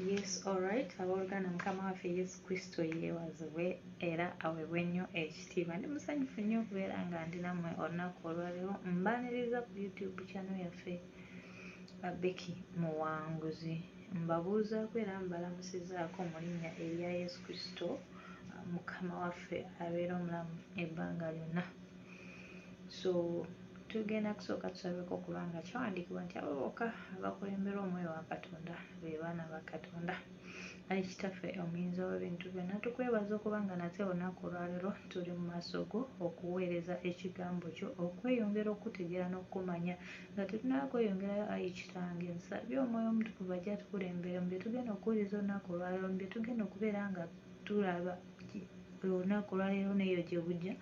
Yes, alright. Abooluganda mukama waffe Yesu Kristo yeebazibwe era aweebwe nnyo ekitiibwa. Ndi musanyufu nnyo okubeera nga ndi nammwe olunaku olwaleero mbaaniriza ku YouTube channel yaffe Becky Muwanguzi. Mbabuuzaako era mbalamusizaako mu linnya erya Yesu Kristo mukama waffe abeera omulamu ebbanga lyonna. So Tugenda kusooka tusabeko okuba nga kyawandiikibwa nti abo bokka abakulemberwa omwoyo wa Katonda be baana ba Katonda. Ayi Kitaffe Omuyinza w'ebintu byonna, tukwebaza okuba nga nate olunaku olwaleero tuli mu maaso go okuweereza ekigambo kyo, okweyongera okukutegeera n'okukumanya. Nga tetunnaba kweyongerayo, ayi Kitange, nsabye omwoyo omutukuvu ajje atukulembere mu bye tugenda okuwuliriza olunaku olwaleero, mu bye tugenda okubeera nga tulaba olunaku olwaleero n'eyo gye bujja.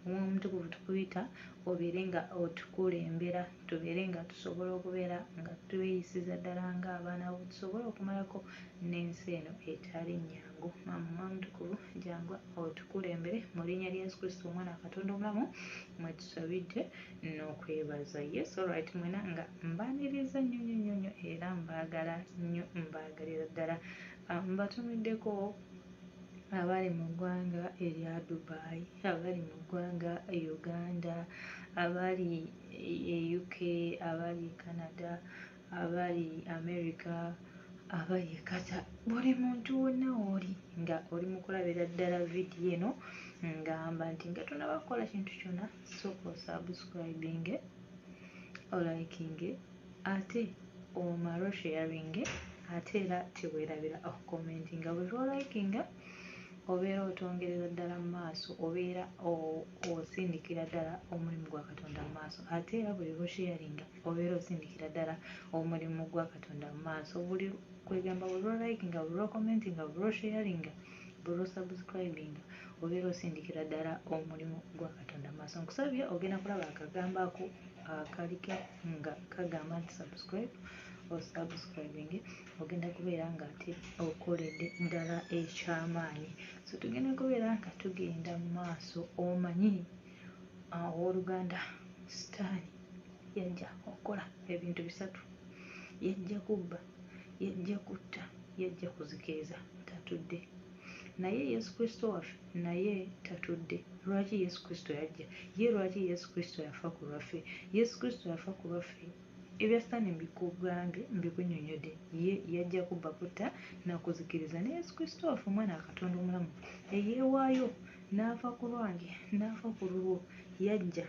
Omwoyo Omutukuvu tukuyita obeere nga otukulembera, tubeere nga tusobola okubeera nga tweyisiza ddala nga abaana bo, tusobole okumalako n'ensi eno etali nnyangu. Maama Omwoyo Omutukuvu jangu otukulembere, mu linnya lya Yesu Kristo omwana wa Katonda omulamu mwe tusabidde n'okwebaza. Yes alright mwena nga mbaniriza nnyo nnyo nnyo nnyo era mbaagala nnyo mbaagalira ddala. Ah, mbatumiddeko abali mu ggwanga erya Dubai, abali mu ggwanga Uganda, abali e UK, abali e Canada, abali America, abali e Qatar buli muntu wonna w'oli nga oli mu kulabira ddala vidiyo eno ngamba nti nga tonnaba kukola kintu kyonna sooka osaabusikulabinge olayikinge. Ate omara osharinge ate era tewerabira oku commentinga buli lwo likinga obeera otongerera ddala mu maaso obeera osindikira ddala omulimu gwa Katonda mu maaso ate era buli lwo sharinga obeera osindikira ddala omulimu gwa Katonda mu maaso buli kwegamba buli lwo likinga buli lwo commentinga buli lwo sharinga buli lwo subscribinga obeera osindikira ddala omulimu gwa Katonda mu maaso nkusabye ogenda kulaba akagambo ako akaliko nga kagamba nti subscribe osubscribing ogenda kubeera nga ate okoledde ddala ekyamaanyi so tugenda kubeera nga tugenda mu maaso omanyi owoluganda sitaani yajja okukola ebintu bisatu yajja kubba yajja kutta yajja kuzikiriza tatudde naye yesu kristo waffe Naye Tatudde. Lwaki Yesu Kristo yajja? Ye lwaki Yesu Kristo yafa ku lwaffe? Yesu Kristo yafa ku lwaffe. Ebya Sitaani mbikugambye, mbikunnyonnyodde. Ye yajja kubba, kutta, na kuzikiriza. Naye Yesu Kristo waffe, Omwana wa Katonda omulamu, eyeewaayo n'afa ku lwange, n'afa ku lulwo. Yajja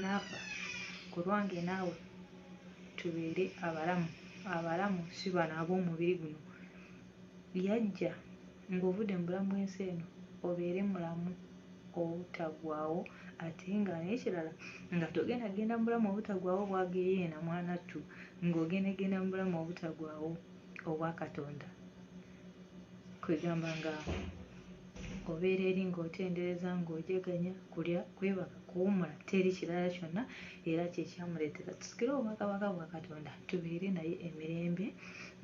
n'afa ku lwange naawe, tubeere abalamu, abalamu, si bano ab'omubiri guno. Yajja. Ng'ovudde mu bulamu bw'ensi eno obeere mulamu obutaggwaawo ate nga n'ekirala nga togenda kugenda mu bulamu obutaggwaawo obwa geyeena mwanattu ng'ogenda genda mu bulamu obutaggwaawo obwa Katonda kwegamba nga obeera eri ng'otendereza ng'ojaganya kulya kwebaka kuwumula teri kirala kyonna era kyekyamuleetera tusikire obwakabaka bwa katonda tubeere naye emirembe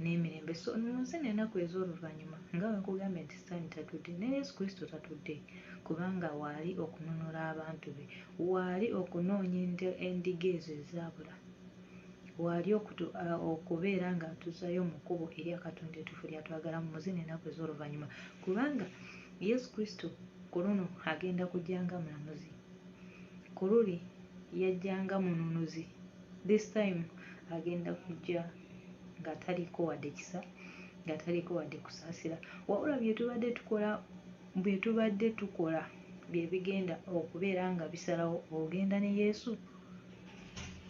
n'emirembe so munsi nenaku ez'oluvannyuma nga wenkugambye nti sitaani tatudde ne yesu kristo tatudde kubanga waali okununula abantu be waali okunoonya endiga ezo ezaabula waali okubeera ng'atuzayo mu kkubo erya katonda etufu lyatwagala mu muzi nenaku ez'oluvannyuma kubanga Yesu Kristo ku luno agenda kujja nga mulamuzi. Ku luli yajja nga mununuzi. This time agenda kujja nga taliiko wadde kisa, nga taliiko wadde kusaasira. Wabula bye tubadde tukola, bye tubadde tukola bye bigenda okubeera nga bisalawo ogenda ne Yesu,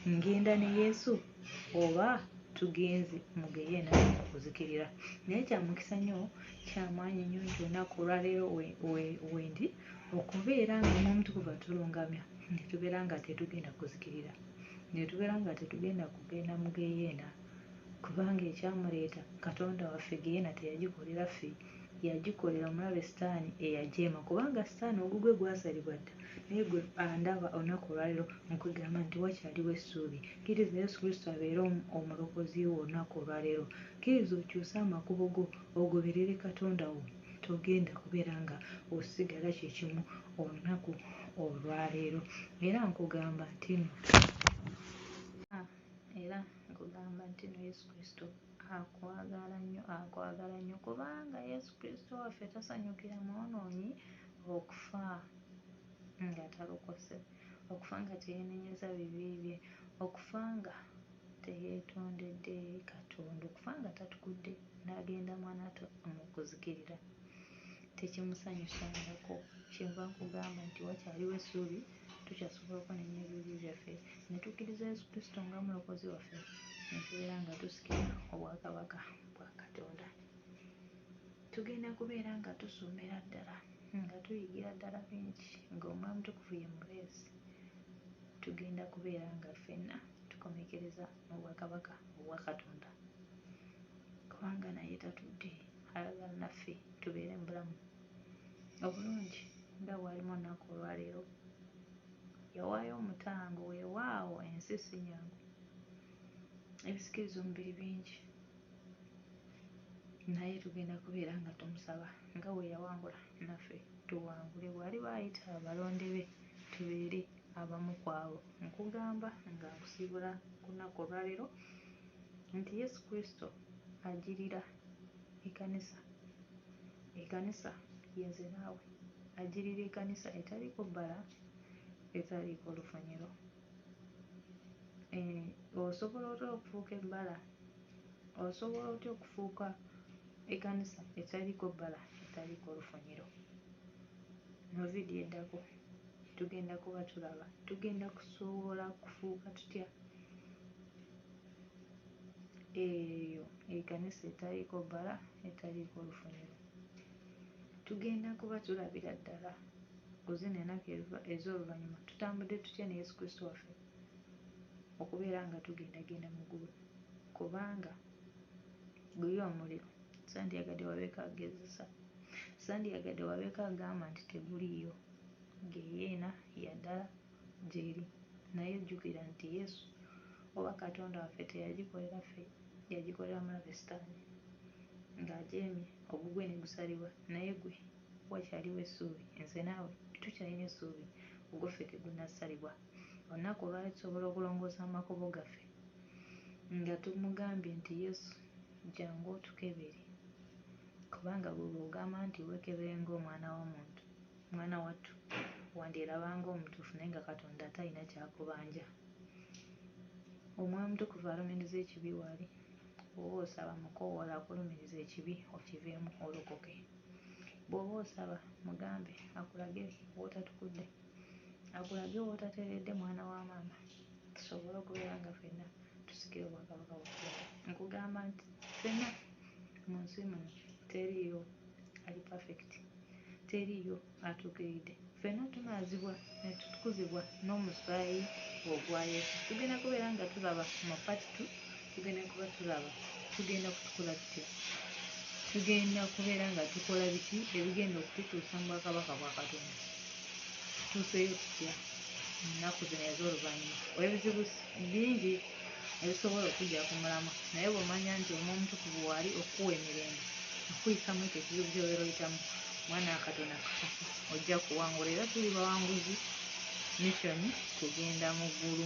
ngenda ne Yesu oba tugenze mu geyeena okuzikirira. Naye kya mukisa nnyo kyamaanyi nnyo nti olunaku olwaleero wendi okubeera nga omuomutukuvu atulungamya netubeera nga tetugenda kuzikirira netubeera nga tetugenda kugenda mu geyeena kubanga ekyamuleeta katonda waffe geyeena teyagikolera ffe yagikolera omulabe sitaani eyajeema kubanga sitaani ogugwe gwasalibwa dda naye gwe andaba olunaku olwaleero nkwegamba nti wakyaliwo essuubi kkiriza yesu kristo abeere omulokozi wo olunaku olwaleero Kkiriza okyuse amakubo go ogoberere Katonda wo. Togenda kubeera nga osigala kye kimu olunaku olwaleero. Era nkugamba ntino. Ah, era nkugamba ntino Yesu Kristo akwagala nnyo, akwagala nnyo, kubanga Yesu Kristo waffe tasanyukira mwonoonyi okufa nga talokose, okufa nga teyenenyeza bibi bye, okufa nga teyeetondedde Katonda okufa nga tatubudde n'agenda mu anato mu kuzikirira tekimusanyusangako. Kyenva nkugamba nti wakyaliwo essuubi, tukyasobola okwenenya ebibi byaffe ne tukkiriza Yesu Kristo nga Mulokozi waffe ne tubeera nga tusikira Obwakabaka bwa Katonda. Tugenda kubeera nga tusomera ddala, nga tuyigira ddala bingi, ng'Omwoyo Omutukuvu ye mubeezi, tugenda kubeera nga ffenna. tukomekkereza mu bwakabaka obwa Katonda kubanga naye tatudde ayagala naffe tubeere mu bulamu obulungi nga bw'alimu olunaku olwaleero. Yawaayo omutango weewaawo ensi si nnyangu ebisikiriza omubiri bingi naye tugenda kubeera nga tumusaba nga bwe yawangula naffe tuwangule bw'aliba ayita abalonde be tubeere abamu ku abo. Nkugamba nga nkusibula ku lunaku olwa leero nti Yesu Kristo ajirira ekanisa, ekanisa ye nze naawe, ajirira ekanisa etaliiko bbala, etaliiko lufunyiro. Eeh, osobola otya okufuuka ebbala? Osobola otya okufuuka ekanisa etaliiko bbala, etaliiko lufunyiro? Mu vidiyo eddako. tugenda kuba tulaba tugenda kusobola kufuuka tutya eyo ekanisa etaliiko bbala etaliiko lufuniro tugenda kuba tulabira ddala ku zino enaku ez'oluvannyuma tutambudde tutya ne yesu kristo waffe okubeera nga tugendagenda mu ggulu kubanga gulyo omuliro Sandyagadde wabeeko agezesa. Sandyagadde wabeeko agamba nti teguliiyo. Ggeyeena ya ddala gy'eri. Naye jjukira nti Yesu, oba Katonda waffe, teyagikolera ffe. Yagikolera mulabe Sitaani. Nga ajeemye, ogugwe ne gusalibwa. Naye ggwe, wakyaliwo essuubi. Nze naawe, tukyalina essuubi. Ogwo ffe tegunnasalibwa. Olunaku olwaleero tusobola okulongoosa amakubo gaffe, nga tumugambye nti, Yesu. Jangu otukebere kubanga ggwe bw'ogamba nti weekebere ng'omwana w'omuntu, mwana wattu, wandyeraba ng'omutuufu naye nga Katonda talina ky'akubanja. Omwoyo Omutukuvu alumiriza ekibi wali bw'oba osaba. Mukoowole akulumirize ekibi okiveemu olokoke. Bw'oba osaba, mugambe akulage w'otatukudde, akulage w'otateredde mwana wa maama. tusobole okubeera nga ffenna tusikira Obwakabaka bwa Katonda. Nkugamba nti ffenna mu nsi muno teriiyo ali pafekiti, teriiyo atuukiridde. Ffenna tunaazibwa ne tutukuzibwa n'omusaayi ogwa Yesu. Tugenda kubeera nga tulaba mu part two. tugenda kuba tulaba tugenda kutukola tutya tugenda kubeera nga tukola biki ebigenda okututuusa mu bwakabaka bwa katonda tutuuseyo tutya ennaku zino ez'oluvannyuma olwebizibu bingi ebisobola okujja ku mulamwa naye bwomanya nti omu omutukuvu waali okukuwa emirembe okuyisa mu ekyo ekizibu kyobeera oyitamu mwana katonda kakasa ojja kuwangula era tuli bawanguzi missioni kugenda mu ggulu